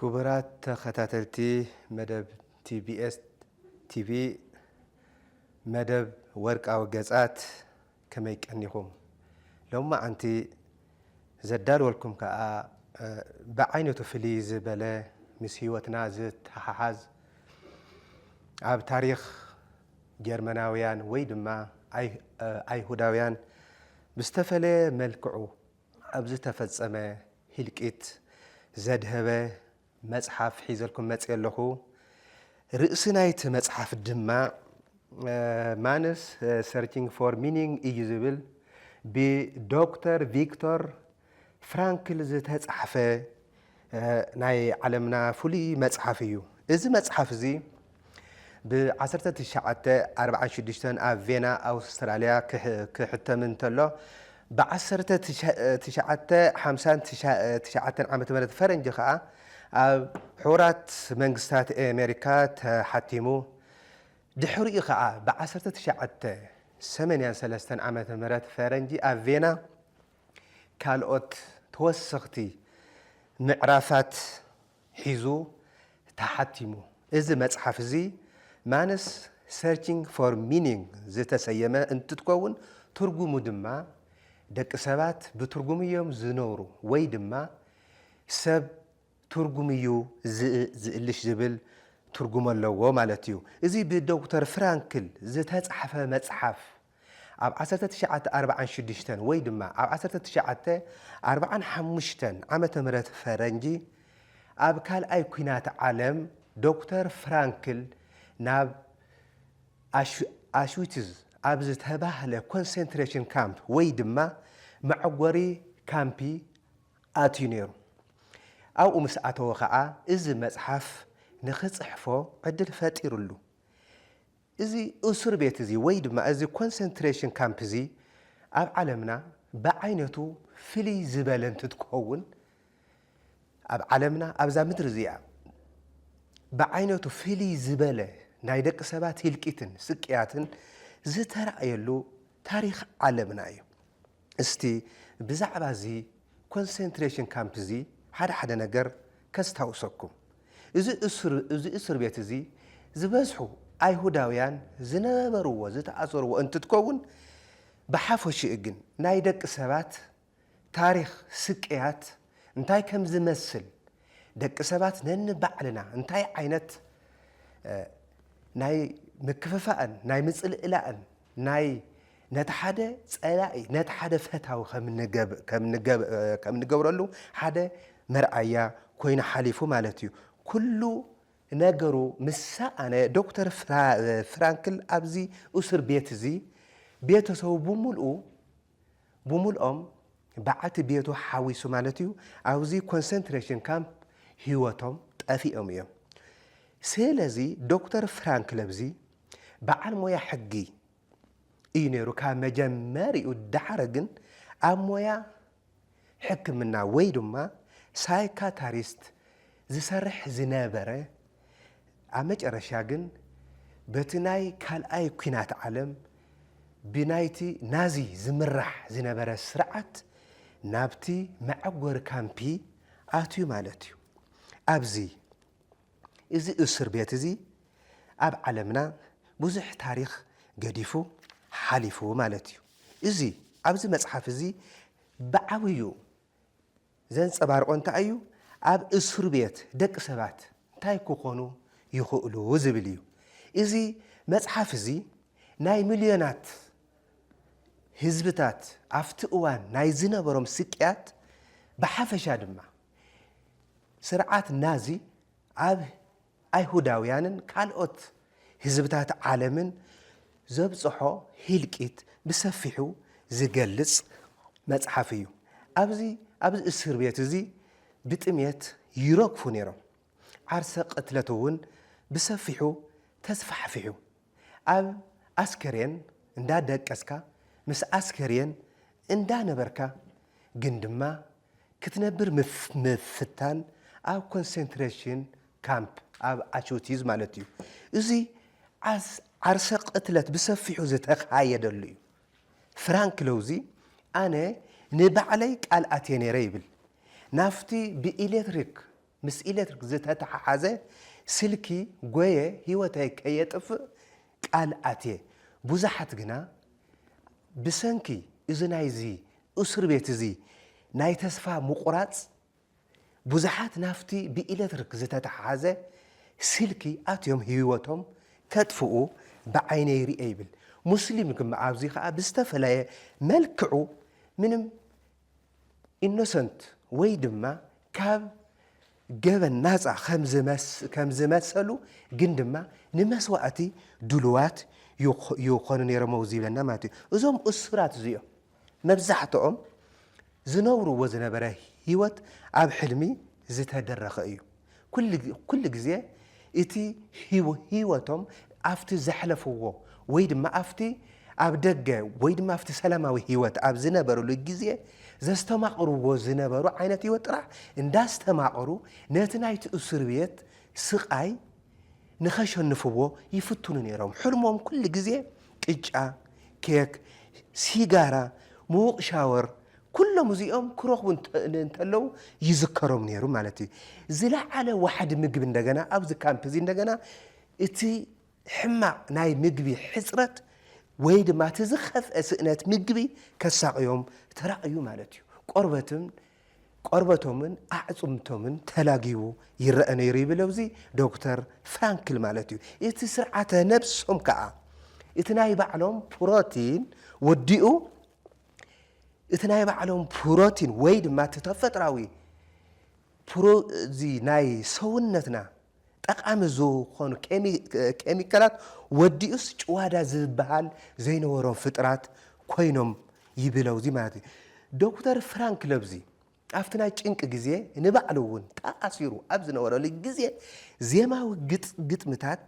ኩቡራት ተከታተልቲ መደብ TBS TV መደብ ወርቃዊ ገጻት ከመይ ቀኒኩም ሎማዓንቲ ዘዳልወልኩም ካኣ ብዓይነቱ ፍልይ ዝበለ ምስ ሂወትና ዝተሓሓዝ ኣብ ታሪክ ጀርመናውያን ወይ ድማ ኣይሁዳውያን ብዝተፈለየ መልክዑ ኣብ ዝተፈጸመ ህልቂት ዘድሀበ መጽሓፍ ሒዘልኩም መጽየ ኣለኹ። ርእሲ ናይቲ መጽሓፍ ድማ ማንስ ሰርችንግ ፎር ሚኒንግ እዩ ዝብል ብዶክተር ቪክቶር ፍራንክል ዝተጻሕፈ ናይ ዓለምና ፍሉይ መጽሓፍ እዩ። እዚ መጽሓፍ እዚ ብ ዓሰርተ ትሽዓተ ኣርብዓን ሽዱሽተን ኣብ ቬና ኣውስትራልያ ክሕተም እንተሎ ብ ዓሰርተ ትሽዓተ ሓምሳን ትሽዓተን ዓመተ ምህረት ፈረንጂ ከኣ ኣብ ሕቡራት መንግስታት ኣሜሪካ ተሓቲሙ ድሕሪኡ ከኣ ብ ዓሰርተ ትሽዓተ ሰመንያን ሰለስተን ዓመተ ምህረት ፈረንጂ ኣብ ቬና ካልኦት ተወሰኽቲ ምዕራፋት ሒዙ ተሓቲሙ። እዚ መጽሓፍ እዚ ማንስ ሰርቺንግ ፎር ሚኒንግ ዝተሰየመ እንትትከውን ትርጉሙ ድማ ደቂ ሰባት ብትርጉም እዮም ዝነብሩ ወይ ድማ ሰብ ትርጉም እዩ ዝእልሽ ዝብል ትርጉም ኣለዎ ማለት እዩ። እዚ ብዶክተር ፍራንክል ዝተጻሕፈ መጽሓፍ ኣብ ዓሰርተ ትሽዓተ ኣርብዓን ሽዱሽተን ወይ ድማ ኣብ ዓሰርተ ትሽዓተ ኣርብዓን ሓሙሽተን ዓመተ ምህረት ፈረንጂ ኣብ ካልኣይ ኲናት ዓለም ዶክተር ፍራንክል ናብ ኣሽዊትዝ ኣብ ዝተባህለ ኮንሰንትሬሽን ካምፕ ወይ ድማ መዕጐሪ ካምፒ ኣትዩ ነይሩ። ኣብኡ ምስ ኣተወ ኸኣ እዚ መጽሓፍ ንኽጽሕፎ ዕድል ፈጢሩሉ። እዚ እሱር ቤት እዚ ወይ ድማ እዚ ኮንሰንትሬሽን ካምፕ እዚ ኣብ ዓለምና ብዓይነቱ ፍልይ ዝበለ እንትትከውን ኣብ ዓለምና ኣብዛ ምድሪ እዚኣ ብዓይነቱ ፍልይ ዝበለ ናይ ደቂ ሰባት ህልቂትን ስቅያትን ዝተራእየሉ ታሪኽ ዓለምና እዩ። እስቲ ብዛዕባ እዚ ኮንሰንትሬሽን ካምፕ እዚ ሓደ ሓደ ነገር ከስታውሰኩም። እዚ እሱር እዚ እሱር ቤት እዚ ዝበዝሑ ኣይሁዳውያን ዝነበርዎ ዝተኣሰርዎ እንትትከውን ብሓፈሽኡ ግን ናይ ደቂ ሰባት ታሪኽ ስቅያት እንታይ ከም ዝመስል ደቂ ሰባት ነንባዕልና እንታይ ዓይነት ናይ ምክፍፋእን ናይ ምጽልእላእን ናይ ነቲ ሓደ ጸላኢ ነቲ ሓደ ፈታዊ ከም ንገብረሉ ሓደ መርኣያ ኮይኑ ሓሊፉ ማለት እዩ። ኩሉ ነገሩ ምስ ሰኣነ ዶክተር ፍራንክል ኣብዚ እሱር ቤት እዚ ቤተሰቡ ብምልኡ ብምልኦም በዓልቲ ቤቱ ሓዊሱ ማለት እዩ ኣብዚ ኮንሰንትሬሽን ካምፕ ህይወቶም ጠፊኦም እዮም። ስለዚ ዶክተር ፍራንክል ኣብዚ በዓል ሞያ ሕጊ እዩ ነይሩ ካብ መጀመሪኡ ዳሓር ግን ኣብ ሞያ ሕክምና ወይ ድማ ሳይካታሪስት ዝሰርሕ ዝነበረ ኣብ መጨረሻ ግን በቲ ናይ ካልኣይ ኩናት ዓለም ብናይቲ ናዚ ዝምራሕ ዝነበረ ስርዓት ናብቲ መዐጎሪ ካምፒ ኣትዩ ማለት እዩ ኣብዚ እዚ እሱር ቤት እዚ ኣብ ዓለምና ብዙሕ ታሪኽ ገዲፉ ሓሊፉ ማለት እዩ። እዚ ኣብዚ መጽሓፍ እዚ ብዓብዩ ዘንጸባርቆ እንታይ እዩ ኣብ እሱር ቤት ደቂ ሰባት እንታይ ክኾኑ ይኽእሉ ዝብል እዩ። እዚ መጽሓፍ እዚ ናይ ምልዮናት ህዝብታት ኣብቲ እዋን ናይ ዝነበሮም ስቅያት ብሓፈሻ ድማ ስርዓት ናዚ ኣብ ኣይሁዳውያንን ካልኦት ህዝብታት ዓለምን ዘብጽሖ ህልቂት ብሰፊሑ ዝገልጽ መጽሓፍ እዩ። ኣብዚ ኣብዚ እስር ቤት እዚ ብጥምየት ይረግፉ ነይሮም፣ ዓርሰ ቅትለት እውን ብሰፊሑ ተስፋሕፊሑ። ኣብ ኣስከሬን እንዳ ደቀስካ ምስ ኣስከሬን እንዳ ነበርካ ግን ድማ ክትነብር ምፍታን ኣብ ኮንሰንትሬሽን ካምፕ፣ ኣብ ኣቹቲዝ ማለት እዩ። እዚ ዓርሰ ቅትለት ብሰፊሑ ዝተኻየደሉ እዩ። ፍራንክ ለውዚ ኣነ ንባዕለይ ቃል ኣትየ ነይረ ይብል። ናብቲ ብኤሌክትሪክ ምስ ኤለትሪክ ዝተተሓሓዘ ስልኪ ጎየ ህይወተይ ከየጥፍእ ቃል ኣትየ። ብዙሓት ግና ብሰንኪ እዚ ናይዚ እሱር ቤት እዚ ናይ ተስፋ ምቑራጽ ብዙሓት ናብቲ ብኤለትሪክ ዝተተሓሓዘ ስልኪ ኣትዮም ህይወቶም ከጥፍኡ ብዓይነይ ሪኤ ይብል ሙስሊም ግመ ኣብዚ ከኣ ብዝተፈለየ መልክዑ ምንም ኢኖሰንት ወይ ድማ ካብ ገበን ናፃ ከም ዝመሰሉ ግን ድማ ንመስዋእቲ ድሉዋት ይኾኑ ነይሮም ኣብዚ ይብለና ማለት እዩ። እዞም እሱራት እዚኦም መብዛሕትኦም ዝነብርዎ ዝነበረ ህይወት ኣብ ሕልሚ ዝተደረኸ እዩ። ኩሉ ግዜ እቲ ህይወቶም ኣብቲ ዘሕለፍዎ ወይ ድማ ኣብቲ ኣብ ደገ ወይ ድማ ኣብቲ ሰላማዊ ህይወት ኣብ ዝነበርሉ ግዜ ዘስተማቕርዎ ዝነበሩ ዓይነት ህይወት ጥራሕ እንዳስተማቐሩ ነቲ ናይቲ እሱር ቤት ስቓይ ንኸሸንፍዎ ይፍትኑ ነይሮም። ሕልሞም ኩሉ ግዜ ቅጫ፣ ኬክ፣ ሲጋራ፣ ምዉቕ ሻወር፣ ኩሎም እዚኦም ክረኽቡ እንተለዉ ይዝከሮም ነይሩ ማለት እዩ። ዝለዓለ ዋሕዲ ምግቢ እንደገና ኣብዚ ካምፕ እዚ እንደገና እቲ ሕማቕ ናይ ምግቢ ሕጽረት ወይ ድማ እቲ ዝኸፍአ ስእነት ምግቢ ከሳቕዮም ተራእዩ ማለት እዩ። ቆርበትን ቆርበቶምን ኣዕጽምቶምን ተላጊቡ ይረኣ ነይሩ ይብል ኣብዚ ዶክተር ፍራንክል ማለት እዩ። እቲ ስርዓተ ነብሶም ከኣ እቲ ናይ ባዕሎም ፕሮቲን ወዲኡ እቲ ናይ ባዕሎም ፕሮቲን ወይ ድማ እቲ ተፈጥራዊ እዚ ናይ ሰውነትና ጠቃሚ ዝኾኑ ኬሚካላት ወዲኡስ ጭዋዳ ዝበሃል ዘይነበሮም ፍጥራት ኮይኖም ይብለውዚ ማለት እዩ ዶክተር ፍራንክ ለብዚ ኣብቲ ናይ ጭንቂ ግዜ ንባዕሉ እውን ተኣሲሩ ኣብ ዝነበረሉ ግዜ ዜማዊ ግጥምታት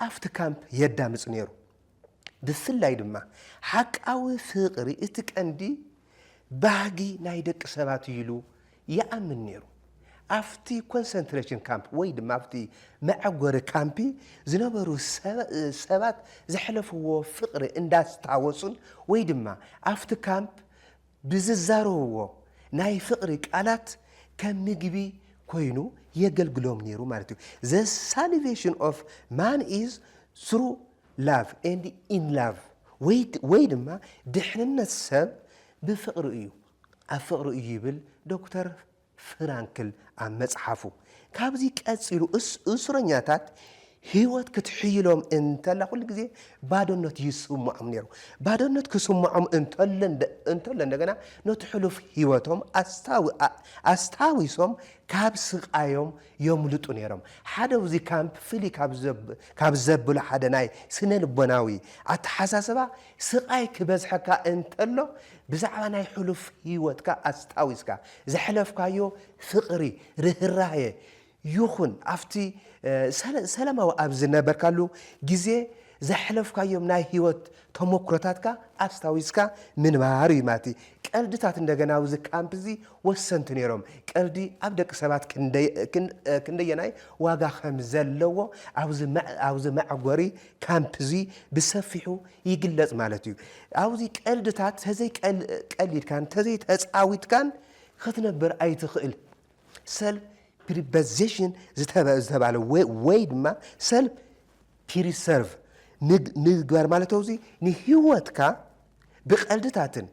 ኣብቲ ካምፕ የዳምጽ ነይሩ። ብፍላይ ድማ ሓቃዊ ፍቕሪ እቲ ቀንዲ ባህጊ ናይ ደቂ ሰባት እዩ ኢሉ ይኣምን ነይሩ። ኣብቲ ኮንሰንትሬሽን ካምፕ ወይ ድማ ኣብቲ መዐጐሪ ካምፕ ዝነበሩ ሰባት ዘሕለፍዎ ፍቕሪ እንዳስታወሱን ወይ ድማ ኣብቲ ካምፕ ብዝዛረብዎ ናይ ፍቕሪ ቃላት ከም ምግቢ ኮይኑ የገልግሎም ነይሩ ማለት እዩ። The salvation of man is through love and in love ወይ ድማ ድሕንነት ሰብ ብፍቕሪ እዩ፣ ኣብ ፍቕሪ እዩ ይብል ዶክተር ፍራንክል ኣብ መጽሓፉ፣ ካብዚ ቀጺሉ እሱረኛታት ህይወት ክትሕይሎም እንተላ ኩሉ ግዜ ባዶነት ይስምዖም ነይሩ። ባዶነት ክስምዖም እንተሎ እንደገና ነቲ ሕሉፍ ህይወቶም ኣስታዊሶም ካብ ስቓዮም የምልጡ ነይሮም። ሓደ ኣብዚ ካምፕ ፍልይ ካብ ዘብሎ ሓደ ናይ ስነ-ልቦናዊ ኣተሓሳስባ ስቓይ ክበዝሐካ እንተሎ ብዛዕባ ናይ ሕሉፍ ህይወትካ ኣስታዊስካ ዘሕለፍካዮ ፍቕሪ፣ ርህራሄ፣ ይኹን ኣብቲ ሰላማዊ ኣብ ዝነበርካሉ ግዜ ዘሕለፍካዮም ናይ ህይወት ተሞክሮታትካ ኣስታዊስካ ምንባር እዩ ማለት እዩ። ቀልድታት እንደገና ኣብዚ ካምፕ እዚ ወሰንቲ ነይሮም። ቀልዲ ኣብ ደቂ ሰባት ክንደየናይ ዋጋ ከም ዘለዎ ኣብዚ መዕጎሪ ካምፕ እዚ ብሰፊሑ ይግለጽ ማለት እዩ። ኣብዚ ቀልድታት ተዘይ ቀሊድካን ተዘይ ተጻዊትካን ክትነብር ኣይትኽእል። ሰልፍ ፕሪበዜሽን ዝተባለ ወይ ድማ ሰልፍ ፒሪሰርቭ ምግባር ማለት እዚ ንህይወትካ ብቀልድታትን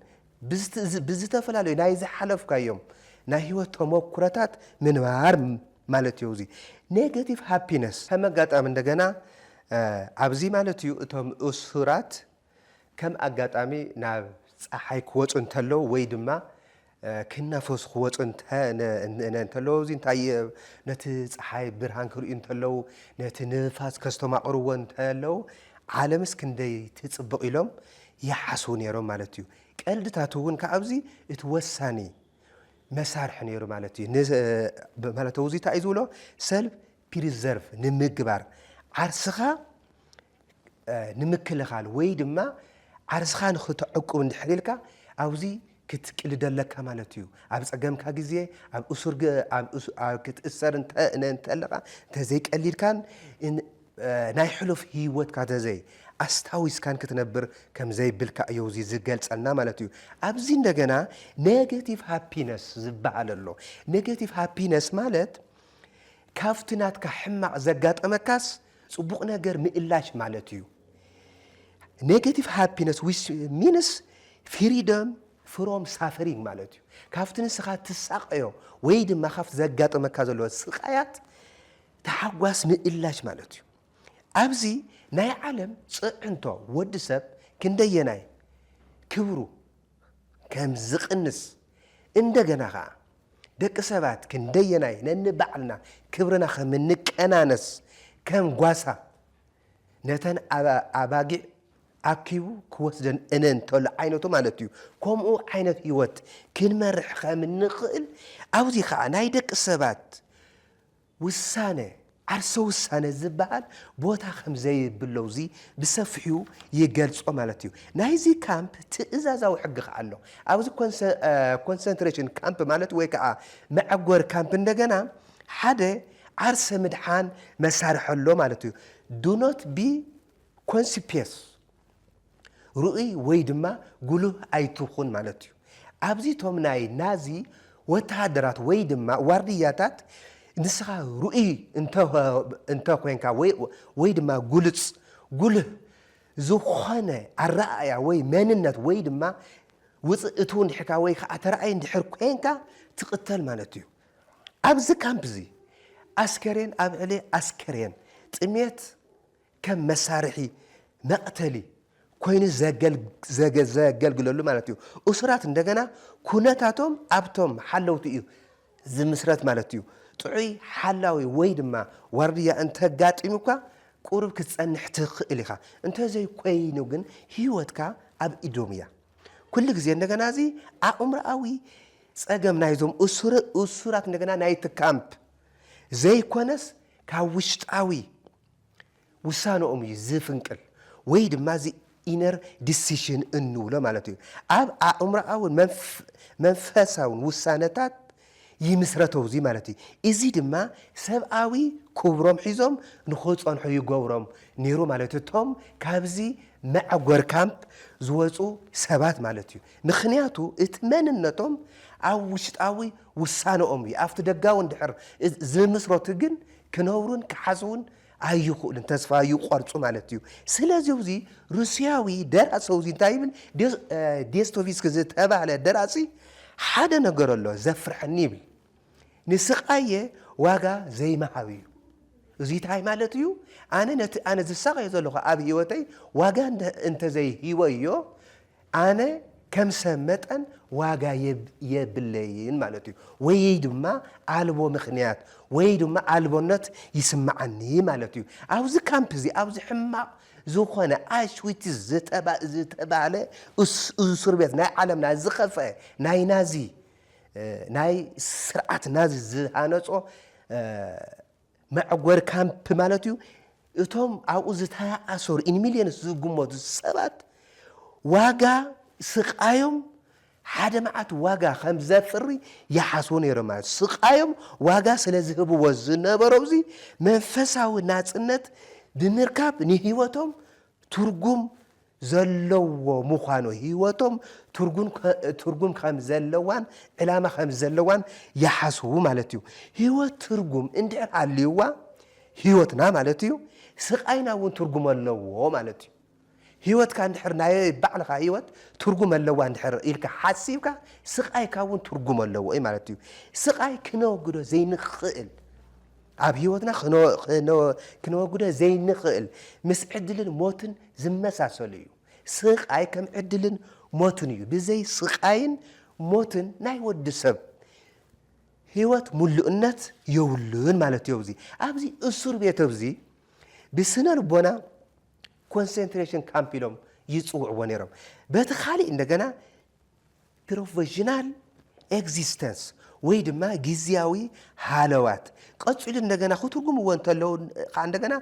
ብዝተፈላለዩ ናይ ዝሓለፍካዮም ናይ ህይወት ተሞኩረታት ምንባር ማለት እዮ እዙይ ኔጋቲቭ ሃፒነስ ከም ኣጋጣሚ እንደገና ኣብዚ ማለት እዩ እቶም እሱራት ከም ኣጋጣሚ ናብ ፀሓይ ክወፁ እንተለዉ ወይ ድማ ክናፈሱ ክወፁ እንተለዉ እዚ እንታይ ነቲ ፀሓይ ብርሃን ክርእዩ እንተለዉ ነቲ ንፋስ ከስተማቕርዎ እንተለዉ ዓለምስ ክንደይ ትፅብቕ ኢሎም ይሓስቡ ነይሮም ማለት እዩ። ቀልድታቱ እውን ካብዚ እቲ ወሳኒ መሳርሒ ነይሩ ማለት እዩ። ማለት እዚ እንታይ እዩ ዝብሎ ሰልፍ ፕሪዘርቭ ንምግባር ዓርስኻ ንምክልኻል ወይ ድማ ዓርስኻ ንክተዕቁብ እንድሕር ኢልካ ኣብዚ ክትቅልድ ኣለካ ማለት እዩ ኣብ ጸገምካ ግዜ ኣብ እሱር ኣብ ክትእሰር እንተለኻ እንተዘይ ቀሊልካን ናይ ሕሉፍ ሂወትካ እንተዘይ ኣስታዊስካን ክትነብር ከምዘይብልካ እዩ እዚ ዝገልጸልና ማለት እዩ ኣብዚ እንደገና ኔጌቲቭ ሃፒነስ ዝበሃል ኣሎ ኔጌቲቭ ሃፒነስ ማለት ካብቲ ናትካ ሕማቕ ዘጋጠመካስ ጽቡቕ ነገር ምእላሽ ማለት እዩ ኔጋቲቭ ሃፒነስ ዊች ሚንስ ፊሪደም ፍሮም ሳፈሪንግ ማለት እዩ። ካብቲ ንስኻ ትሳቐዮ ወይ ድማ ካብቲ ዘጋጠመካ ዘሎ ስቓያት ተሓጓስ ምእላሽ ማለት እዩ። ኣብዚ ናይ ዓለም ፅዕንቶ ወዲ ሰብ ክንደየናይ ክብሩ ከም ዝቕንስ እንደገና ከዓ ደቂ ሰባት ክንደየናይ ነንባዕልና ክብርና ከም እንቀናነስ ከም ጓሳ ነተን ኣባጊዕ ኣኪቡ ክወስደን እነ እንተሎ ዓይነቱ ማለት እዩ። ከምኡ ዓይነት ህይወት ክንመርሕ ከም እንኽእል ኣብዚ ኸኣ ናይ ደቂ ሰባት ውሳነ፣ ዓርሰ ውሳነ ዝበሃል ቦታ ከም ዘይብሎ እዚ ብሰፊሑ ይገልጾ ማለት እዩ። ናይዚ ካምፕ ትእዛዛዊ ሕጊ ኸኣ ኣሎ። ኣብዚ ኮንሰንትሬሽን ካምፕ ማለት ወይ ከኣ መዐጎሪ ካምፕ እንደገና ሓደ ዓርሰ ምድሓን መሳርሒ ኣሎ ማለት እዩ። Do not be conspicuous፣ ርኡይ ወይ ድማ ጉሉህ ኣይትኹን ማለት እዩ። ኣብዚ እቶም ናይ ናዚ ወተሃደራት ወይ ድማ ዋርድያታት ንስኻ ርኡይ እንተ ኾይንካ ወይ ድማ ግሉጽ፣ ጉሉህ፣ ዝኾነ ኣረኣእያ ወይ መንነት ወይ ድማ ውጽእ እትው እንድሕርካ ወይ ከኣ ተራኣይ እንድሕር ኮንካ ትቕተል ማለት እዩ። ኣብዚ ካምፕ'ዚ ኣስከሬን ኣብ ዕሊ ኣስከሬን ጥሜት ከም መሳርሒ መቕተሊ ኮይኑ ዘገልግለሉ ማለት እዩ። እሱራት እንደገና ኩነታቶም ኣብቶም ሓለውቲ እዩ ዝምስረት ማለት እዩ። ጥዑይ ሓላዊ ወይ ድማ ዋርድያ እንተጋጢሙካ ቁሩብ ክትጸንሕ ትኽእል ኢኻ። እንተዘይኮይኑ ግን ህይወትካ ኣብ ኢዶም እያ። ኩሉ ግዜ እንደገና እዚ ኣእምሮኣዊ ጸገም ናይዞም እሱራት እንደገና ናይቲ ካምፕ ዘይኮነስ ካብ ውሽጣዊ ውሳነኦም እዩ ዝፍንቅል ወይ ድማ እዚ ኢነር ዲሲሽን እንብሎ ማለት እዩ ኣብ ኣእምሮኣውን መንፈሳውን ውሳነታት ይምስረቶ እዚ ማለት እዩ። እዚ ድማ ሰብኣዊ ኩብሮም ሒዞም ንክጸንሑ ይገብሮም ነይሩ ማለት እዩ እቶም ካብዚ መዕጎር ካምፕ ዝወጹ ሰባት ማለት እዩ። ምክንያቱ እቲ መንነቶም ኣብ ውሽጣዊ ውሳነኦም እዩ ኣብቲ ደጋዊ እንድሕር ዝምስረቱ ግን ክነብሩን ክሓስቡን ኣይኽእሉን ተስፋ ይቆርጹ ማለት እዩ። ስለዚ እዚ ሩስያዊ ደራሲ እዚ እንታይ ይብል ዴስቶቭስኪ ዝተባህለ ደራሲ ሓደ ነገር ኣሎ ዘፍርሐኒ ይብል ንስቃየ ዋጋ ዘይምሃብ እዩ። እዚ እንታይ ማለት እዩ ኣነ ነቲ ኣነ ዝሳቀዮ ዘለኹ ኣብ ህይወተይ ዋጋ እንተዘይሂበዮ ኣነ ከም ሰብ መጠን ዋጋ የብለይን ማለት እዩ ወይ ድማ ኣልቦ ምክንያት ወይ ድማ ኣልቦነት ይስምዓኒ ማለት እዩ ኣብዚ ካምፕ እዚ ኣብዚ ሕማቕ ዝኾነ ኣሽዊትዝ ዝተባህለ እሱር ቤት ናይ ዓለምና ዝኸፍአ ናይ ናዚ ናይ ስርዓት ናዚ ዝሃነጾ መዕጎሪ ካምፕ ማለት እዩ። እቶም ኣብኡ ዝተኣሰሩ ኢን ሚልዮንስ ዝግመቱ ሰባት ዋጋ ስቃዮም ሓደ መዓት ዋጋ ከም ዘፍሪ ይሓስቡ ነይሮም ማለት እዩ። ስቃዮም ዋጋ ስለ ዝህብዎ ዝነበሮብዚ መንፈሳዊ ናጽነት ብምርካብ ንህይወቶም ትርጉም ዘለዎ ምዃኑ ህይወቶም ትርጉም ከም ዘለዋን ዕላማ ከም ዘለዋን ይሓስቡ ማለት እዩ። ህይወት ትርጉም እንድሕር ሃልዩዋ ህይወትና ማለት እዩ ስቓይና እውን ትርጉም ኣለዎ ማለት እዩ። ህይወትካ እንድሕር ናይ ባዕልኻ ህይወት ትርጉም ኣለዋ እንድሕር ኢልካ ሓሲብካ ስቓይካ እውን ትርጉም ኣለዎ እዩ ማለት እዩ። ስቓይ ክነወግዶ ዘይንኽእል ኣብ ህይወትና ክነወግዶ ዘይንኽእል ምስ ዕድልን ሞትን ዝመሳሰሉ እዩ። ስቓይ ከም ዕድልን ሞትን እዩ። ብዘይ ስቓይን ሞትን ናይ ወዲ ሰብ ህይወት ምሉእነት የብሉን ማለት እዩ። ኣብዚ ኣብዚ እሱር ቤት ኣብዚ ብስነ ልቦና ኮንሰንትሬሽን ካምፕ ኢሎም ይፅውዕዎ ነይሮም። በቲ ካሊእ እንደገና ፕሮቪዥናል ኤግዚስተንስ ወይ ድማ ግዝያዊ ሃለዋት ቀጺሉ እንደገና ክትርጉምዎ እንተለዉ ከኣ እንደገና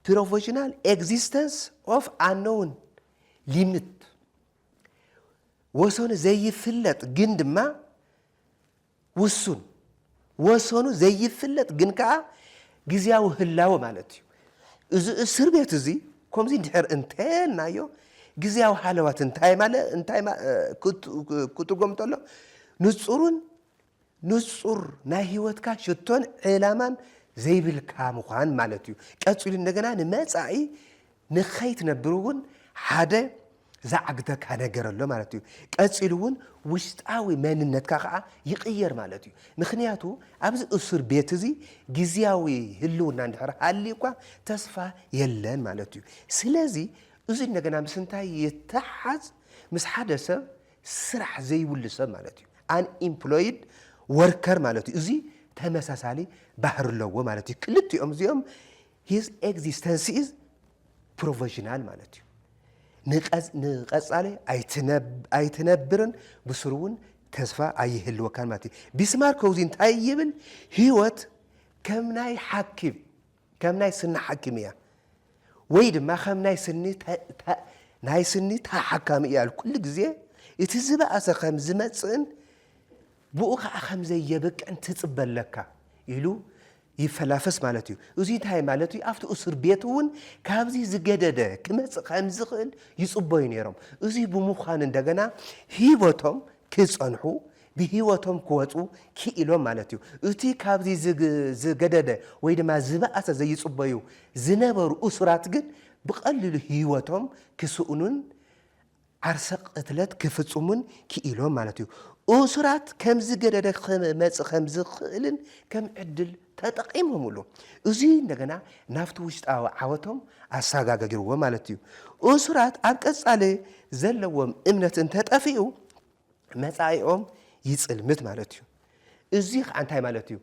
ፕሮቪዥናል ኤግዚስተንስ ኦፍ ኣነውን ሊምት ወሰኑ ዘይፍለጥ ግን ድማ ውሱን፣ ወሰኑ ዘይፍለጥ ግን ከኣ ግዝያዊ ህላወ ማለት እዩ። እዚ እስር ቤት እዚ ከምዚ እንድሕር እንተ ኢልናዮ ግዝያዊ ሃለዋት እንታይ ማለ እንታይ ማ ክትርጎም እንተሎ ንጹርን ንጹር ናይ ህይወትካ ሽቶን ዕላማን ዘይብልካ ምዃን ማለት እዩ። ቀጺሉ እንደገና ንመጻኢ ንኸይትነብር እውን ሓደ ዝዓግተካ ነገር ኣሎ ማለት እዩ። ቀጺሉ እውን ውሽጣዊ መንነትካ ከኣ ይቕየር ማለት እዩ። ምኽንያቱ ኣብዚ እሱር ቤት እዚ ግዝያዊ ህልውና እንድሕር ሃልዩካ ተስፋ የለን ማለት እዩ። ስለዚ እዚ እንደገና ምስ እንታይ ይተሓሓዝ? ምስ ሓደ ሰብ ስራሕ ዘይብሉ ሰብ ማለት እዩ፣ Unemployed Worker ማለት እዩ። እዚ ተመሳሳሊ ባህሪ ኣለዎ ማለት እዩ። ክልቲኦም እዚኦም ሂዝ ኤግዚስተንስ ኢዝ ፕሮቨዥናል ማለት እዩ። ንቐጻሊ ኣይትነብርን ብስሩ እውን ተስፋ ኣይህልወካን ማለት እዩ። ቢስማርክ ከውዚ እንታይ ይብል? ህይወት ከም ናይ ሓኪም ከም ናይ ስኒ ሓኪም እያ ወይ ድማ ከም ናይ ስኒ ናይ ስኒ ተሓካሚ እያ ኩሉ ግዜ እቲ ዝበኣሰ ከም ዝመጽእን ብኡ ኸኣ ከም ዘየብቅዕን ትጽበ ኣለካ ኢሉ ይፈላፈስ ማለት እዩ። እዙይ እንታይ ማለት እዩ? ኣብቲ እሱር ቤት እውን ካብዙይ ዝገደደ ክመጽእ ከም ዝኽእል ይጽበዩ ነይሮም። እዙይ ብምዃኑ እንደገና ህይወቶም ክጸንሑ ብህይወቶም ክወጹ ክኢሎም ማለት እዩ። እቲ ካብዙይ ዝገደደ ወይ ድማ ዝበኣሰ ዘይጽበዩ ዝነበሩ እሱራት ግን ብቐሊሉ ህይወቶም ክስእኑን ዓርሰ ቅትለት ክፍጽሙን ክኢሎም ማለት እዩ። እሱራት ከምዚ ገደደ ክመጽእ ከም ዝኽእልን ከም ዕድል ተጠቒሞምሉ። እዙይ እንደገና ናብቲ ውሽጣዊ ዓወቶም ኣሰጋገግርዎ ማለት እዩ። እሱራት ኣብ ቀጻሊ ዘለዎም እምነት እንተጠፊኡ መጻኢኦም ይጽልምት ማለት እዩ። እዙይ ከዓ እንታይ ማለት እዩ?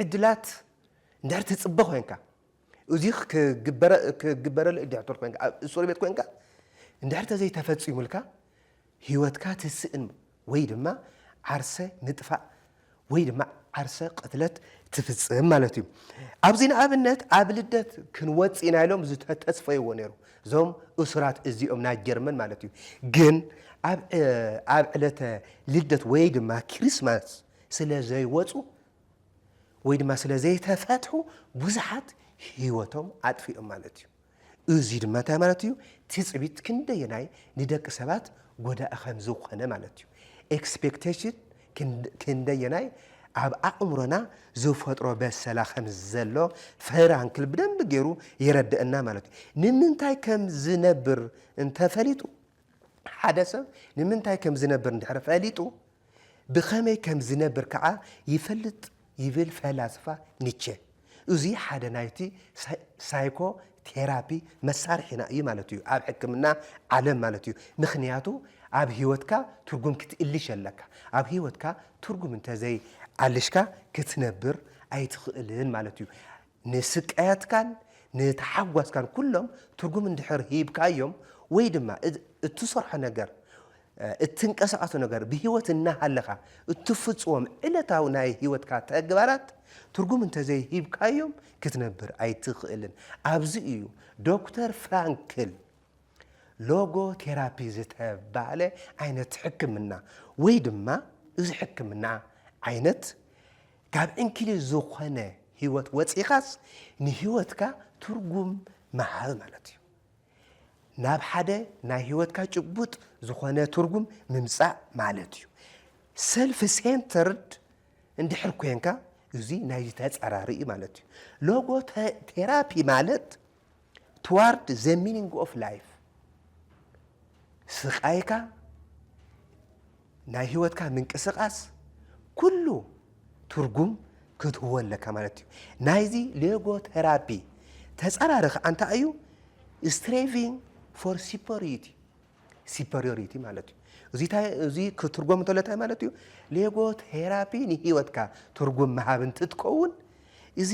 ዕድላት እንድሕር ትጽበ ኮይንካ፣ እዚ ክግበረሉ እድሕር ኮንካ ኣብ እሱር ቤት ኮንካ እንድሕር ተዘይተፈጺሙልካ ህይወትካ ትስእን ወይ ድማ ዓርሰ ምጥፋእ ወይ ድማ ዓርሰ ቅትለት ትፍጽም ማለት እዩ። ኣብዚ ንኣብነት ኣብ ልደት ክንወጽእ ኢና ኢሎም ዝተተስፈይዎ ነይሩ እዞም እሱራት እዚኦም ናይ ጀርመን ማለት እዩ። ግን ኣብ ዕለተ ልደት ወይ ድማ ክሪስማስ ስለ ዘይወጹ ወይ ድማ ስለ ዘይተፈትሑ ብዙሓት ህይወቶም ኣጥፊኦም ማለት እዩ። እዚ ድማ እንታይ ማለት እዩ? ትፅቢት ክንደየናይ ንደቂ ሰባት ጎዳኢ ከም ዝኾነ ማለት እዩ። ኤክስፔክቴሽን ክንደየናይ ኣብ ኣእምሮና ዝፈጥሮ በሰላ ከም ዘሎ ፍራንክል ብደንቢ ገይሩ የረድአና ማለት እዩ። ንምንታይ ከም ዝነብር እንተፈሊጡ ሓደ ሰብ ንምንታይ ከም ዝነብር እንድሕር ፈሊጡ ብኸመይ ከም ዚነብር ከኣ ይፈልጥ ይብል ፈላስፋ ኒቸ። እዙይ ሓደ ናይቲ ሳይኮ ቴራፒ መሳርሒና እዩ ማለት እዩ፣ ኣብ ሕክምና ዓለም ማለት እዩ። ምኽንያቱ ኣብ ህይወትካ ትርጉም ክትእልሽ ኣለካ። ኣብ ህይወትካ ትርጉም እንተዘይኣልሽካ ክትነብር ኣይትኽእልን ማለት እዩ። ንስቃያትካን ንታሓጓስካን ኩሎም ትርጉም እንድሕር ሂብካዮም ወይ ድማ እትሰርሖ ነገር እትንቀሳቀሶ ነገር ብህይወት እናሃለኻ እትፍፅዎም ዕለታዊ ናይ ህይወትካ ተግባራት ትርጉም እንተዘይሂብካዮም ክትነብር ኣይትኽእልን። ኣብዚ እዩ ዶክተር ፍራንክል ሎጎ ቴራፒ ዝተባህለ ዓይነት ሕክምና ወይ ድማ እዚ ሕክምና ዓይነት ካብ ዕንኪሊል ዝኾነ ህይወት ወጺእኻስ ንህይወትካ ትርጉም ምሃብ ማለት እዩ። ናብ ሓደ ናይ ህይወትካ ጭቡጥ ዝኾነ ትርጉም ምምጻእ ማለት እዩ። ሰልፍ ሴንተርድ እንድሕር ኮንካ እዚ ናይዚ ተጻራሪ እዩ ማለት እዩ። ሎጎ ቴራፒ ማለት ትዋርድ ዘ ሚኒንግ ኦፍ ላይፍ ስቃይካ ናይ ህይወትካ ምንቅስቃስ ኩሉ ትርጉም ክትህቦ ኣለካ ማለት እዩ ናይዚ ሌጎ ቴራፒ ተፃራሪ ከዓ እንታይ እዩ ስትሬቪንግ ፎር ሲፐሪቲ ሲፐርዮሪቲ ማለት እዩ። እዚ ታይ እዚ ክትርጎም እንተሎ ታይ ማለት እዩ? ሌጎ ቴራፒ ንህይወትካ ትርጉም ምሃብ እንትትከውን እዚ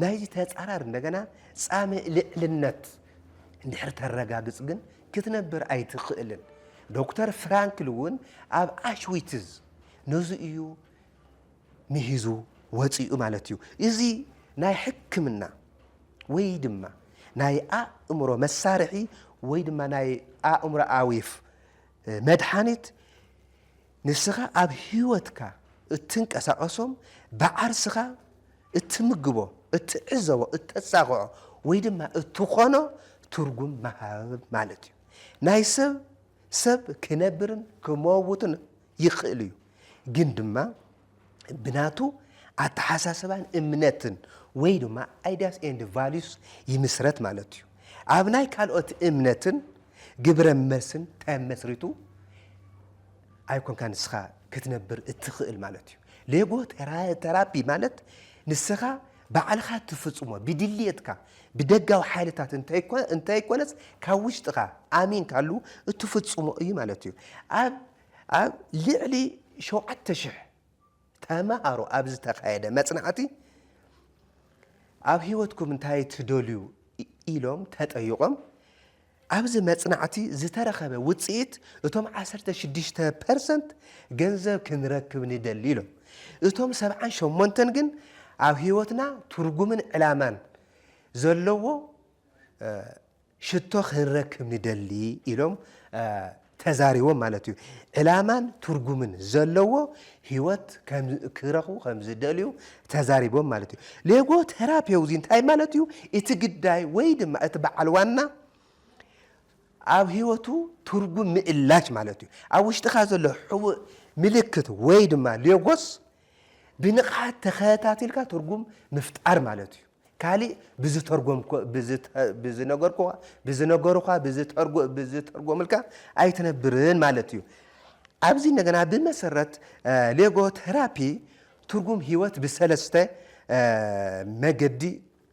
ናይዚ ተጻራሪ እንደገና ጻምእ ልዕልነት እንድሕር ተረጋግጽ ግን ክትነብር ኣይትኽእልን። ዶክተር ፍራንክል እውን ኣብ ኣሽዊትዝ ነዚ እዩ ምሂዙ ወጺኡ ማለት እዩ። እዚ ናይ ሕክምና ወይ ድማ ናይ ኣእምሮ መሳርሒ ወይ ድማ ናይ ኣእምሮኣዊፍ መድሓኒት ንስኻ ኣብ ህይወትካ እትንቀሳቐሶም ብዓርስኻ እትምግቦ፣ እትዕዘቦ፣ እተጻቕዖ ወይ ድማ እትኾኖ ትርጉም ምሃብ ማለት እዩ። ናይ ሰብ ሰብ ክነብርን ክመውትን ይኽእል እዩ ግን ድማ ብናቱ ኣተሓሳስባን እምነትን ወይ ድማ ኣይዲያስ ኤንድ ቫሊዩስ ይምስረት ማለት እዩ። ኣብ ናይ ካልኦት እምነትን ግብረ መልስን ተመስሪቱ ኣይኮንካ ንስኻ ክትነብር እትኽእል ማለት እዩ። ሌጎ ተራፒ ማለት ንስኻ ባዕልኻ እትፍጽሞ ብድልየትካ ብደጋዊ ሓይልታት እንተይኮነስ ካብ ውሽጥኻ ኣሚንካሉ እትፍጽሞ እዩ ማለት እዩ። ኣብ ኣብ ልዕሊ ሸውዓተ ሽሕ ተማሃሮ ኣብ ዝተኻየደ መጽናዕቲ ኣብ ህይወትኩም እንታይ ትደልዩ ኢሎም ተጠይቖም፣ ኣብዚ መጽናዕቲ ዝተረኸበ ውጽኢት እቶም ዓሰርተ ሽዱሽተ ፐርሰንት ገንዘብ ክንረክብ ንደሊ ኢሎም። እቶም ሰብዓን ሸሞንተን ግን ኣብ ህይወትና ትርጉምን ዕላማን ዘለዎ ሽቶ ክንረክብ ንደሊ ኢሎም ተዛሪቦም ማለት እዩ። ዕላማን ትርጉምን ዘለዎ ህይወት ክረኽቡ ከም ዝደልዩ ተዛሪቦም ማለት እዩ። ሌጎ ቴራፒው እዚ እንታይ ማለት እዩ? እቲ ግዳይ ወይ ድማ እቲ በዓል ዋና ኣብ ህይወቱ ትርጉም ምእላሽ ማለት እዩ። ኣብ ውሽጥኻ ዘሎ ሕቡእ ምልክት ወይ ድማ ሌጎስ ብንቕሓት ተኸታቲልካ ትርጉም ምፍጣር ማለት እዩ። ካሊእ ብዝተርጎምብዝነገርኩኻ ብዝነገሩኻ ብዝተርጎምብዝተርጎምልካ ኣይትነብርን ማለት እዩ። ኣብዚ እንደገና ብመሰረት ሌጎ ቴራፒ ትርጉም ህይወት ብሰለስተ መገዲ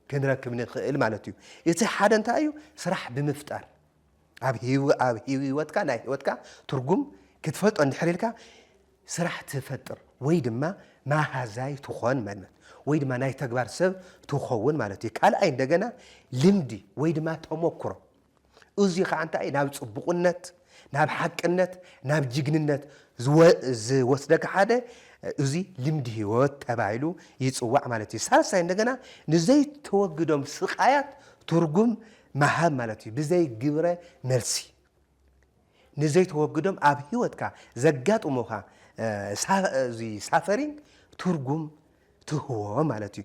ክንረክብ ንኽእል ማለት እዩ። እቲ ሓደ እንታይ እዩ? ስራሕ ብምፍጣር ኣብ ሂዊ ኣብ ሂዊወትካ ናይ ሂወትካ ትርጉም ክትፈልጦ እንድሕር ኢልካ ስራሕ ትፈጥር ወይ ድማ ማሃዛይ ትኾን ማለት ወይ ድማ ናይ ተግባር ሰብ ትኸውን ማለት እዩ። ካልኣይ እንደገና ልምዲ ወይ ድማ ተሞክሮ እዙይ ከዓ እንታይ ናብ ፅቡቕነት ናብ ሓቅነት ናብ ጅግንነት ዝወስደካ ሓደ እዙይ ልምዲ ህይወት ተባሂሉ ይፅዋዕ ማለት እዩ። ሳልሳይ እንደገና ንዘይተወግዶም ስቃያት ትርጉም ምሃብ ማለት እዩ ብዘይ ግብረ መልሲ ንዘይተወግዶም ኣብ ህይወትካ ዘጋጥሙኻ ሳፈሪንግ ትርጉም ትህቦ ማለት እዩ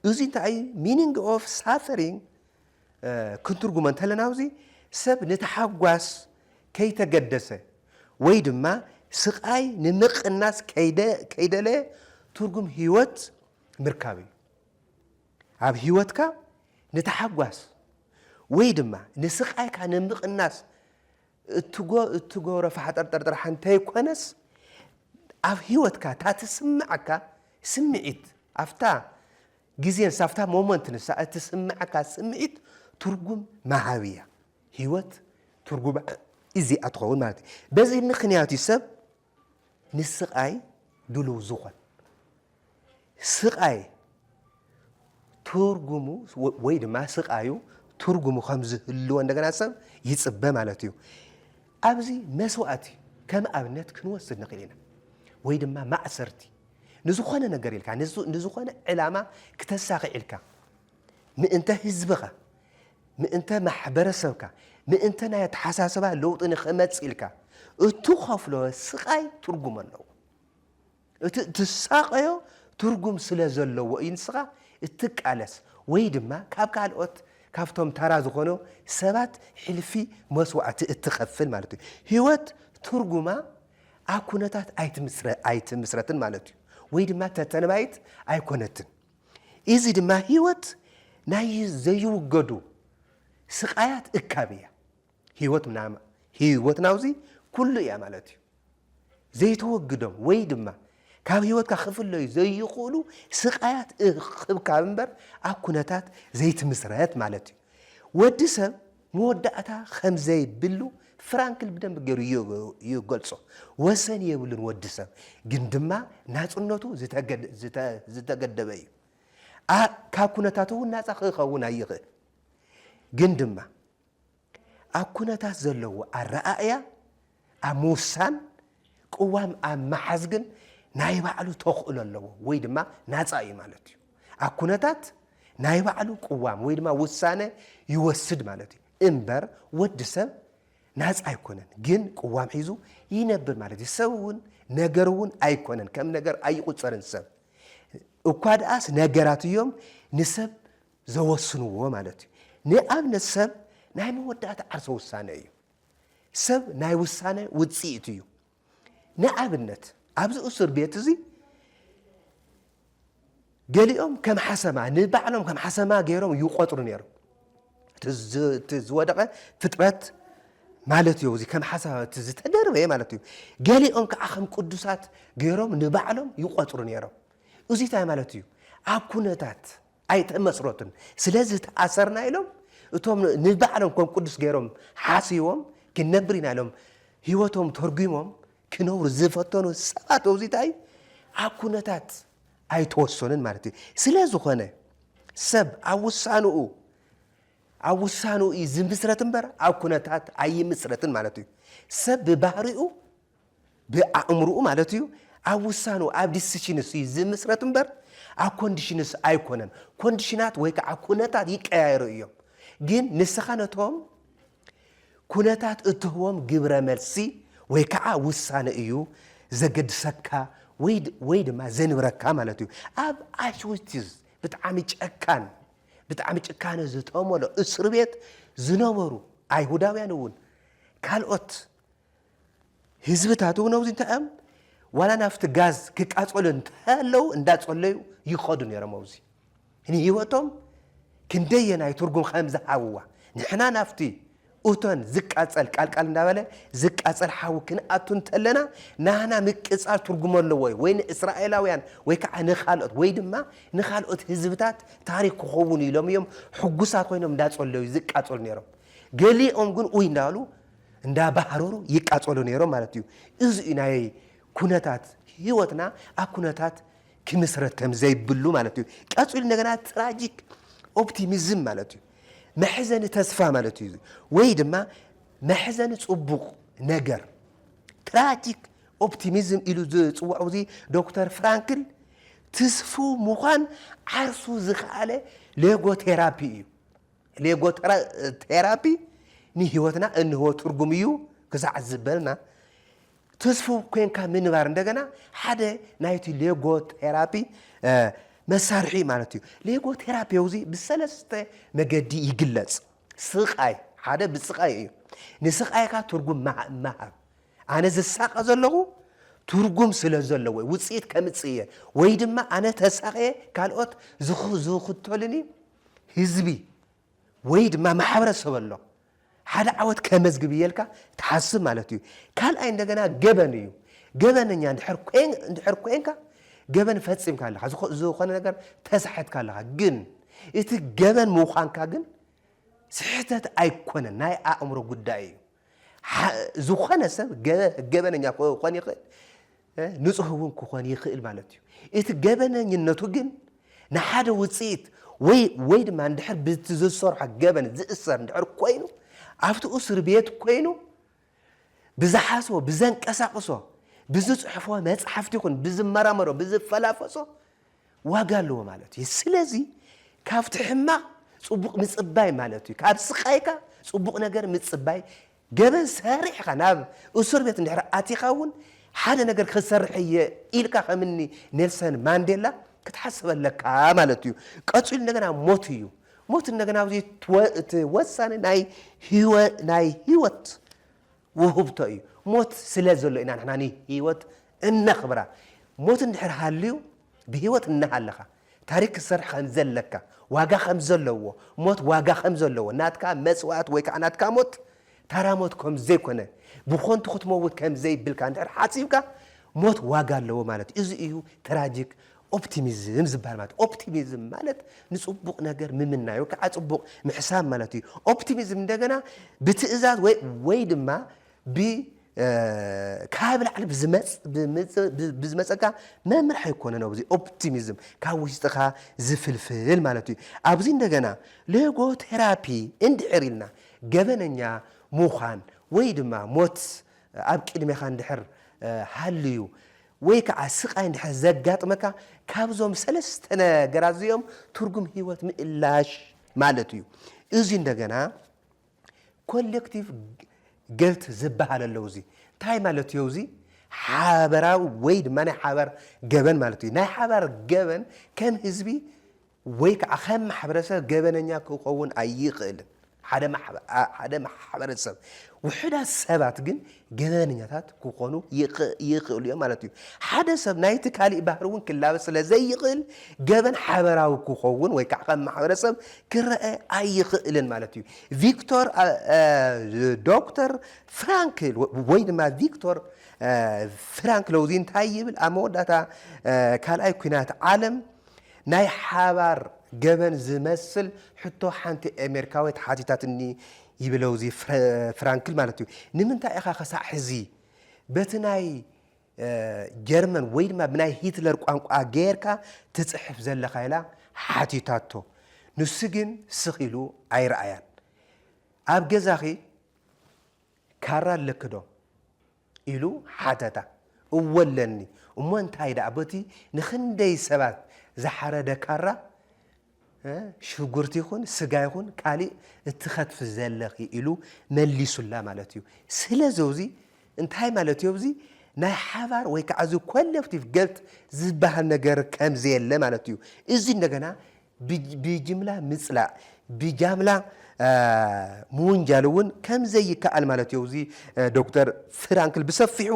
እዚ እንታይ እዩ ሚኒንግ ኦፍ ሳፈሪንግ ክንትርጉሞ እንተለና ኣብዚ ሰብ ንተሓጓስ ከይተገደሰ ወይ ድማ ስቃይ ንምቕናስ ከይደለየ ትርጉም ህይወት ምርካብ እዩ ኣብ ህይወትካ ንታሕጓስ ወይ ድማ ንስቓይካ ንምቕናስ እትገብሮ ፋሕጠርጠር ጥራሕ እንተይኮነስ ኣብ ህይወትካ እታ ትስመዓካ ስምዒት ኣብታ ግዜ ንሳ ኣብታ ሞመንት ንሳ እትስመዓካ ስምዒት ትርጉም መሃቢ እያ። ህይወት ትርጉማ እዚኣ ትኸውን ማለት እዩ። በዚ ምኽንያት እዩ ሰብ ንስቓይ ድሉው ዝኾን ስቓይ ትርጉሙ ወይ ድማ ስቓዩ ትርጉሙ ከም ዝህልዎ እንደገና ሰብ ይፅበ ማለት እዩ። ኣብዚ መስዋእቲ ከም ኣብነት ክንወስድ ንኽእል ኢና ወይ ድማ ማእሰርቲ ንዝኾነ ነገር ኢልካ ንዝኾነ ዕላማ ክተሳኺዕ ኢልካ ምእንተ ህዝብኻ ምእንተ ማሕበረሰብካ፣ ምእንተ ናይ ኣተሓሳስባ ለውጢ ንክመጽእ ኢልካ እትኸፍሎ ስቓይ ትርጉም ኣለዎ። እቲ እትሳቐዮ ትርጉም ስለ ዘለዎ እዩ ንስኻ እትቃለስ ወይ ድማ ካብ ካልኦት ካብቶም ተራ ዝኾኑ ሰባት ሕልፊ መስዋእቲ እትኸፍል ማለት እዩ። ህይወት ትርጉማ ኣብ ኩነታት ኣይትምስረትን ማለት እዩ ወይ ድማ ተተንባይት ኣይኮነትን። ኢዚ ድማ ህይወት ናይ ዘይውገዱ ስቃያት እካብ ኢያ። ህይወት ምናም ህይወት ናውዚ ኩሉ ኢያ ማለት ኢዩ። ዘይተወግዶም ወይ ድማ ካብ ህይወትካ ክፍለዩ ዘይክእሉ ስቃያት እክብካብ እምበር ኣብ ኩነታት ዘይትምስረት ማለት ኢዩ። ወዲ ሰብ መወዳእታ ከም ዘይብሉ ፍራንክል ብደንቢ ገይሩ ይገልጾ። ወሰን የብሉን ወዲ ሰብ፣ ግን ድማ ናጽነቱ ዝተገደበ እዩ። ካብ ኩነታት እውን ናጻ ክኸውን ኣይኽእል። ግን ድማ ኣብ ኩነታት ዘለዎ ኣረኣእያ ኣብ ምውሳን ቅዋም ኣብ ምሓዝ ግን ናይ ባዕሉ ተኽእሎ ኣለዎ ወይ ድማ ናጻ እዩ ማለት እዩ። ኣብ ኩነታት ናይ ባዕሉ ቅዋም ወይ ድማ ውሳነ ይወስድ ማለት እዩ። እምበር ወዲ ሰብ ናጻ ኣይኮነን፣ ግን ቅዋም ሒዙ ይነብር ማለት እዩ። ሰብ እውን ነገር እውን ኣይኮነን፣ ከም ነገር ኣይቑጸርን ሰብ እኳ ድኣስ ነገራት እዮም ንሰብ ዘወስንዎ ማለት እዩ። ንኣብነት ሰብ ናይ መወዳእታ ዓርሰ ውሳነ እዩ። ሰብ ናይ ውሳነ ውፅኢት እዩ። ንኣብነት ኣብዚ እሱር ቤት እዚ ገሊኦም ከም ሓሰማ ንባዕሎም ከም ሓሰማ ገይሮም ይቆፅሩ ነይሮም። እቲ ዝወደቐ ፍጥረት ማለት እዩ እዚ ከም ሓሳብ እቲ ዝተደርበ ማለት እዩ ገሊኦም ከዓ ከም ቅዱሳት ገይሮም ንባዕሎም ይቆፅሩ ነይሮም እዚ እንታይ ማለት እዩ ኣብ ኩነታት ኣይተመስረቱን ስለዚ ተኣሰርና ኢሎም እቶም ንባዕሎም ከም ቅዱስ ገይሮም ሓሲቦም ክንነብር ኢና ኢሎም ህይወቶም ተርጒሞም ክነብሩ ዝፈተኑ ሰባት መብዚታይ ኣብ ኩነታት ኣይተወሰኑን ማለት እዩ ስለ ዝኾነ ሰብ ኣብ ውሳንኡ ኣብ ውሳንኡ እዩ ዝምስረት እምበር ኣብ ኩነታት ኣይምስረትን ማለት እዩ ሰብ ብባህሪኡ ብኣእምርኡ ማለት እዩ ኣብ ውሳኑ ኣብ ዲሲሽንስ እዩ ዝምስረት እምበር ኣብ ኮንዲሽንስ ኣይኮነን። ኮንዲሽናት ወይ ከዓ ኩነታት ይቀያየሩ እዮም። ግን ንስኻ ነቶም ኩነታት እትህቦም ግብረ መልሲ ወይ ከዓ ውሳነ እዩ ዘገድሰካ ወይ ድማ ዘንብረካ ማለት እዩ። ኣብ ኣሽዊትዝ ብጣዕሚ ጨካን ብጣዕሚ ጭካነ ዝተመሎ እስር ቤት ዝነበሩ ኣይሁዳውያን እውን ካልኦት ህዝብታት እውን ኣብዚ እንታይ እዮም ዋላ ናብቲ ጋዝ ክቃፀሉ እንተለው እንዳፀለዩ ይኸዱ ነይሮም ኣብዚ ንህይወቶም ክንደየናይ ትርጉም ከም ዝሃብዋ ንሕና ናብቲ እቶን ዝቃፀል ቃልቃል እንዳበለ ዝቃፀል ሓዊ ክንኣቱ እንተለና ናህና ምቅፃል ትርጉም ኣለዎ እዩ ወይ ንእስራኤላውያን ወይ ከዓ ንካልኦት ወይ ድማ ንካልኦት ህዝብታት ታሪክ ክኸውን ኢሎም እዮም ሕጉሳት ኮይኖም እንዳፀለዩ ዝቃፀሉ ነይሮም ገሊኦም ግን ኡይ እንዳሉ እንዳ ባህረሩ ይቃጸሉ ነይሮም ማለት እዩ። እዚ እዩ ናይ ኩነታት ህይወትና ኣብ ኩነታት ክምስረት ከም ዘይብሉ ማለት እዩ። ቀጺሉ እንደገና ትራጂክ ኦፕቲሚዝም ማለት እዩ። መሕዘኒ ተስፋ ማለት እዩ። ወይ ድማ መሕዘኒ ጽቡቕ ነገር ትራጂክ ኦፕቲሚዝም ኢሉ ዝጽውዖ እዚ ዶክተር ፍራንክል ትስፉው ምዃን ዓርሱ ዝኸኣለ ሌጎ ቴራፒ እዩ። ሌጎቴራፒ ንህይወትና እንህቦ ትርጉም እዩ ክሳዕ ዝበልና፣ ትስፉው ኴንካ ምንባር እንደገና ሓደ ናይቲ ሌጎቴራፒ መሳርሒ እዩ ማለት እዩ። ሌጎቴራፒ እዚ ብሰለስተ መገዲ ይግለጽ። ስቓይ፣ ሓደ ብስቓይ እዩ። ንስቓይካ ትርጉም ምሃብ፣ ኣነ ዝሳቐ ዘለኹ ትርጉም ስለ ዘለዎ ውጽኢት ከምጽእ እየ ወይ ድማ ኣነ ተሳቕየ ካልኦት ዝኽተሉኒ ህዝቢ ወይ ድማ ማሕበረሰብ ኣሎ ሓደ ዓወት ከመዝግብ እየ ኢልካ ትሓስብ ማለት እዩ። ካልኣይ እንደገና ገበን እዩ። ገበነኛ እንድሕር ኮይን- እንድሕር ኮይንካ ገበን ፈጺምካ ኣለኻ፣ ዝኾ- ዝኾነ ነገር ተሳሒትካ ኣለኻ። ግን እቲ ገበን ምዃንካ ግን ስሕተት ኣይኮነን፣ ናይ ኣእምሮ ጉዳይ እዩ። ዝኾነ ሰብ ገበነኛ ክኾን ይኽእል፣ ንጹህ እውን ክኾን ይኽእል ማለት እዩ። እቲ ገበነኝነቱ ግን ንሓደ ውጽኢት ወይ ወይ ድማ እንድሕር ብቲ ዝሰርሖ ገበን ዝእሰር እንድሕር ኮይኑ ኣብቲ እስር ቤት ኮይኑ ብዝሓስቦ ብዘንቀሳቕሶ ብዝጽሕፎ መጽሓፍቲ ይኹን ብዝመራመሮ ብዝፈላፈሶ ዋጋ ኣለዎ ማለት እዩ ስለዚ ካብቲ ሕማቅ ጽቡቅ ምጽባይ ማለት እዩ ካብ ስቃይካ ጽቡቅ ነገር ምጽባይ ገበን ሰሪሕኻ ናብ እሱር ቤት እንድሕር ኣቲኻ እውን ሓደ ነገር ክሰርሕ እየ ኢልካ ከምኒ ኔልሰን ማንዴላ ክትሓስብ ኣለካ ማለት እዩ ቀጺሉ እንደገና ሞት እዩ ሞት እንደገና ኣብዚ እቲ ወሳኒ ናይ ህይወት ውህብቶ እዩ። ሞት ስለ ዘሎ ኢና ንሕና ንህይወት እነኽብራ። ሞት እንድሕር ሃልዩ ብህይወት እናሃለኻ ታሪኽ ክትሰርሕ ከም ዘለካ፣ ዋጋ ከም ዘለዎ፣ ሞት ዋጋ ከም ዘለዎ፣ ናትካ መስዋእቲ ወይ ከዓ ናትካ ሞት ታራ ሞት ከም ዘይኮነ፣ ብኾንቱ ክትመውት ከም ዘይብልካ እንድሕር ሓሲብካ ሞት ዋጋ ኣለዎ ማለት እዩ። እዚ እዩ ትራጂክ ኦፕቲሚዝም ዝበሃል ማለት ኦፕቲሚዝም ማለት ንጽቡቕ ነገር ምምናይ ወይ ከዓ ጽቡቕ ምሕሳብ ማለት እዩ። ኦፕቲሚዝም እንደገና ብትእዛዝ ወይ ወይ ድማ ብ ካብ ላዕሊ ብዝመፀካ መምርሒ ኣይኮነን ኣብዚ ኦፕቲሚዝም ካብ ውሽጥኻ ዝፍልፍል ማለት እዩ። ኣብዚ እንደገና ሎጎቴራፒ እንድሕር ኢልና ገበነኛ ምዃን ወይ ድማ ሞት ኣብ ቅድሜኻ እንድሕር ሃልዩ ወይ ከኣ ስቓይ እንድሕር ዘጋጥመካ ካብዞም ሰለስተ ነገራት እዚኦም ትርጉም ህይወት ምእላሽ ማለት እዩ። እዚ እንደገና ኮሌክቲቭ ገልት ዝበሃል ኣለዉ እዚ እንታይ ማለት እዮ እዚ ሓበራዊ ወይ ድማ ናይ ሓባር ገበን ማለት እዩ። ናይ ሓባር ገበን ከም ህዝቢ ወይ ከዓ ከም ማሕበረሰብ ገበነኛ ክኸውን ኣይኽእልን። ሓደ ሓደ ማሕበረሰብ ውሑዳት ሰባት ግን ገበነኛታት ክኾኑ ይኽእሉ እዮም ማለት እዩ። ሓደ ሰብ ናይቲ ካሊእ ባህሪ እውን ክላበስ ስለ ዘይኽእል ገበን ሓበራዊ ክኸውን ወይ ከዓ ከም ማሕበረሰብ ክረኣ ኣይኽእልን ማለት እዩ። ቪክቶር ዶክተር ፍራንክል ወይ ድማ ቪክቶር ፍራንክሎዚ እንታይ ይብል ኣብ መወዳእታ ካልኣይ ኩናት ዓለም ናይ ሓባር ገበን ዝመስል ሕቶ ሓንቲ ኣሜሪካዊት ሓቲታትኒ ይብለውዚ ፍራንክል ማለትዩ። ንምንታይ ኢኻ ከሳዕ ሕዚ በቲ ናይ ጀርመን ወይ ድማ ብናይ ሂትለር ቋንቋ ገይርካ ትጽሕፍ ዘለኻ ኢላ ሓቲታቶ። ንሱ ግን ስኽ ኢሉ ኣይረኣያን። ኣብ ገዛኺ ካራ ኣለኪ ዶ? ኢሉ ሓተታ። እወ ኣለኒ፣ እሞ እንታይ ደኣ በቲ ንኽንደይ ሰባት ዝሓረደ ካራ ሽጉርቲ ይኹን ስጋ ይኹን ካሊእ እትኸትፊ ዘለኺ ኢሉ መሊሱላ ማለት እዩ። ስለዚ እዚ እንታይ ማለት እዩ እዚ ናይ ሓባር ወይ ከዓ እዚ ኮለክቲቭ ገልት ዝበሃል ነገር ከምዘየለ ማለት እዩ። እዚ እንደገና ብጅምላ ምጽላእ፣ ብጃምላ ምውንጃል እውን ከምዘይከኣል ማለት እዩ እዚ ዶክተር ፍራንክል ብሰፊሑ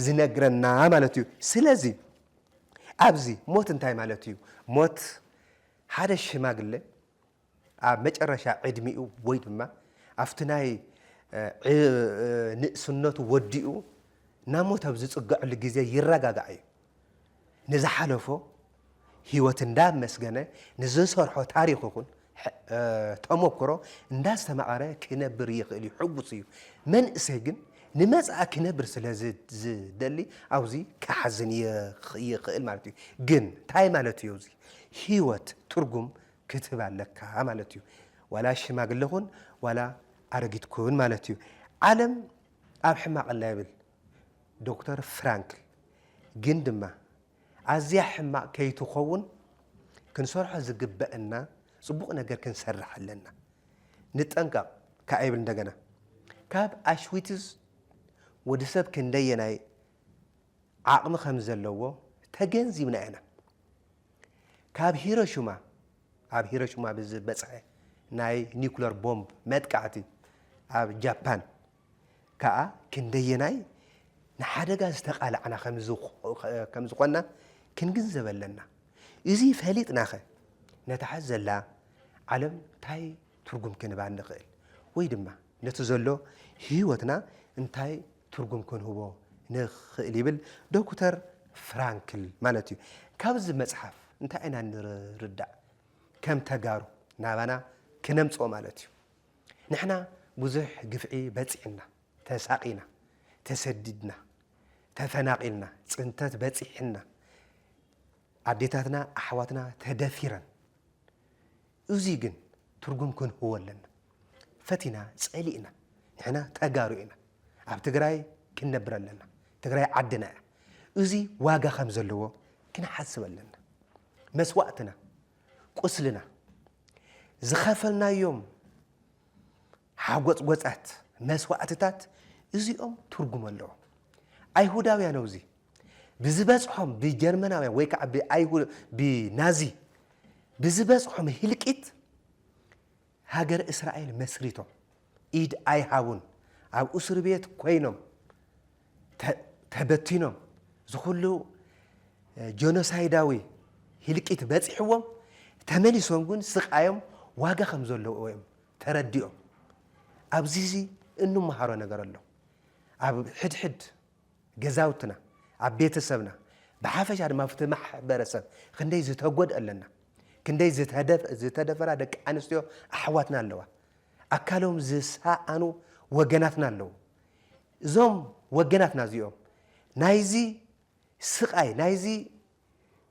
ዝነግረና ማለት እዩ። ስለዚ ኣብዚ ሞት እንታይ ማለት እዩ? ሞት ሓደ ሽማግለ ኣብ መጨረሻ ዕድሚኡ ወይ ድማ ኣብቲ ናይ ንእስነቱ ወዲኡ ናብ ሞት ኣብ ዝጽገዐሉ ግዜ ይረጋጋዕ እዩ። ንዝሓለፎ ህይወት እንዳ ኣመስገነ ንዝሰርሖ ታሪኽ ይኹን ተሞክሮ እንዳስተማቐረ ክነብር ይኽእል እዩ፣ ሕጉስ እዩ። መንእሰይ ግን ንመጻኢ ክነብር ስለ ዝደሊ ኣብዚ ክሓዝን ይኽእል ማለት እዩ። ግን ታይ ማለት እዩ እዚ? ህይወት ትርጉም ክትህባ ኣለካ ማለት እዩ። ዋላ ሽማግለ ኩን ዋላ ኣረጊት ኩን ማለት እዩ። ዓለም ኣብ ሕማቕ ኣላ ይብል ዶክተር ፍራንክል ግን ድማ ኣዝያ ሕማቕ ከይትኸውን ክንሰርሖ ዝግበእና ጽቡቕ ነገር ክንሰርሕ ኣለና። ንጠንቀቕ ከኣ ይብል እንደገና። ካብ ኣሽዊትዝ ወዲ ሰብ ክንደየናይ ዓቕሚ ከም ዘለዎ ተገንዚብና ኢና። ካብ ሂሮሽማ ኣብ ሂሮሽማ ብዝበጽሐ ናይ ኒኩለር ቦምብ መጥቃዕቲ ኣብ ጃፓን ከኣ ክንደየናይ ንሓደጋ ዝተቓላዕና ከም ዝዀንና ክንግንዘብ ኣለና። እዚ ፈሊጥናኸ ነታ ሕዚ ዘላ ዓለም እንታይ ትርጕም ክንህባ ንኽእል? ወይ ድማ ነቲ ዘሎ ህይወትና እንታይ ትርጕም ክንህቦ ንኽእል? ይብል ዶክተር ፍራንክል ማለት እዩ። ካብዚ መጽሓፍ እንታይ ኢና ንርዳእ? ከም ተጋሩ ናባና ክነምጽኦ ማለት እዩ። ንሕና ብዙሕ ግፍዒ በጺዕና፣ ተሳቒና፣ ተሰዲድና፣ ተፈናቒልና፣ ጽንተት በጺሕና፣ ኣዴታትና ኣሕዋትና ተደፊረን። እዙይ ግን ትርጉም ክንህቦ ኣለና። ፈቲና ጸሊእና ንሕና ተጋሩ ኢና። ኣብ ትግራይ ክንነብር ኣለና። ትግራይ ዓድና እያ። እዙይ ዋጋ ከም ዘለዎ ክንሓስብ ኣለና። መስዋእትና ቁስልና፣ ዝኸፈልናዮም ሓጎጽጎጻት፣ መስዋእትታት እዚኦም ትርጉም ኣለዎም። ኣይሁዳውያን ኣብዚ ብዝበጽሖም ብጀርመናውያን ወይ ከዓ ብናዚ ብዝበጽሖም ህልቂት ሃገረ እስራኤል መስሪቶም ኢድ ኣይሃቡን ኣብ ኡስርቤት ኮይኖም ተበቲኖም ዝኹሉ ጆኖሳይዳዊ ሂልቂት በጺሕዎም ተመሊሶም ግን ስቃዮም ዋጋ ከም ዘለዎ እዮም ተረዲኦም ኣብዚ እዚ እንመሃሮ ነገር ኣሎ ኣብ ሕድሕድ ገዛውትና፣ ኣብ ቤተሰብና፣ ብሓፈሻ ድማ ኣብቲ ማሕበረሰብ ክንደይ ዝተጎድኣ ኣለና፣ ክንደይ ዝተደፈራ ደቂ ኣንስትዮ ኣሕዋትና ኣለዋ፣ ኣካሎም ዝሰኣኑ ወገናትና ኣለዉ። እዞም ወገናትና እዚኦም ናይዚ ስቓይ፣ ናይዚ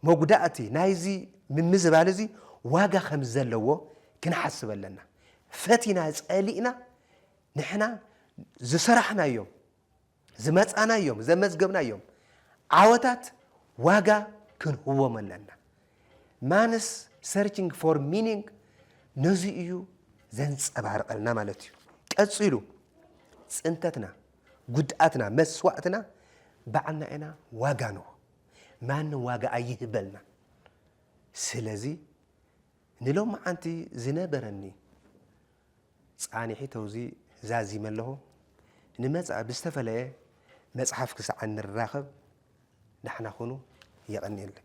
መጉዳእቲ፣ ናይዚ ምምዝባል እዚ ዋጋ ከም ዘለዎ ክንሓስብ ኣለና። ፈቲና ጸሊእና ንሕና ዝሰራሕናዮም ዝመጻናዮም ዘመዝገብናዮም ዓወታት ዋጋ ክንህቦም ኣለና። ማንስ ሰርችንግ ፎር ሚኒንግ ነዚ እዩ ዘንጸባርቐልና ማለት እዩ። ቀጺሉ ጽንተትና፣ ጉድኣትና፣ መስዋእትና ባዕልና ኢና ዋጋ ንሆ ማንም ዋጋ ኣይህበልና። ስለዚ ንሎምዓንቲ ዝነበረኒ ጻኒሒት ኣውዚ ዛዚመ ኣለኹ። ንመጻኢ ብዝተፈለየ መጽሓፍ ክሳዕ እንራኸብ ዳሕና ኩኑ። የቐንየለይ።